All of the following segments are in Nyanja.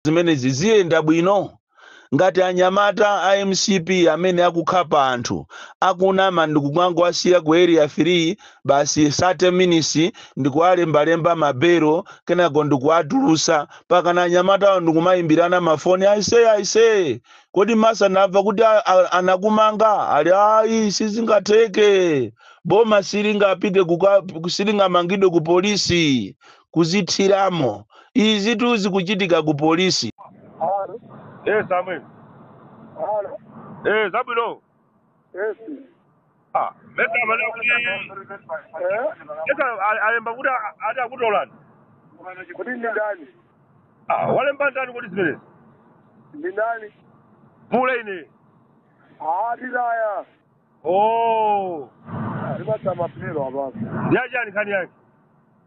zimenezi ziyenda bwino ngati anyamata a mcp amene akukhapa anthu akunama ndikukawasiya ku area 3 basi 30 minutes ndikuwalembalemba mabelo kenako ndikuwatulusa pakana anyamatawo ndikumayimbirana mafoni aise aise kodi mesa ndamva kuti a- a- anakumanga ati ayi sizingatheke boma silingapite kuka- silingamangidwe ku polisi kuzithiramo. Izitu zikuchitika ku polisi. Halo. Eh, Samuel. Halo. Eh, za bwino. Yes. Ah, mesa amanena kuti Eh? mesa a- alemba kuti a- ati akutolani. Kuti ndi ndani? Ah, walemba ndani kodi zimenezi? Ndi ndani? Mule ine. Ah, zitaye. Oh, Ndipatsa mapiro apapo. yachani nkhani yake.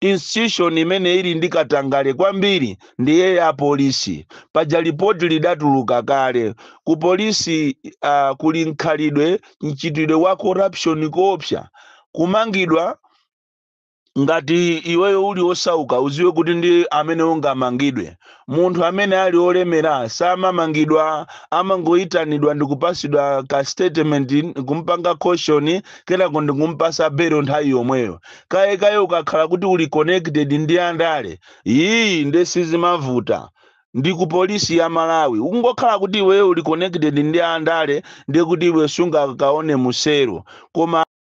institution imene ili ndi katangale kwambiri ndiye ya polisi paja lipoti lidatuluka kale ku polisi uh, kuli mkhalidwe mchitidwe wa corruption koopsa kumangidwa ngati iweyo uli osauka udziwe kuti ndi amene ungamangidwe Munthu amene ali olemera samamangidwa amangoitanidwa ndikupatsidwa ka statement nkumpanga caution kenako ndikumpatsa belo nthawi yomweyo. Kaye kaye ukakhala kuti uli connected ndi andale iih nde sizimavuta ndi ku polisi ya Malawi. Ukungokhala kuti iweyo uli connected ndi andale ndekuti iwe sungakaone mu cell koma.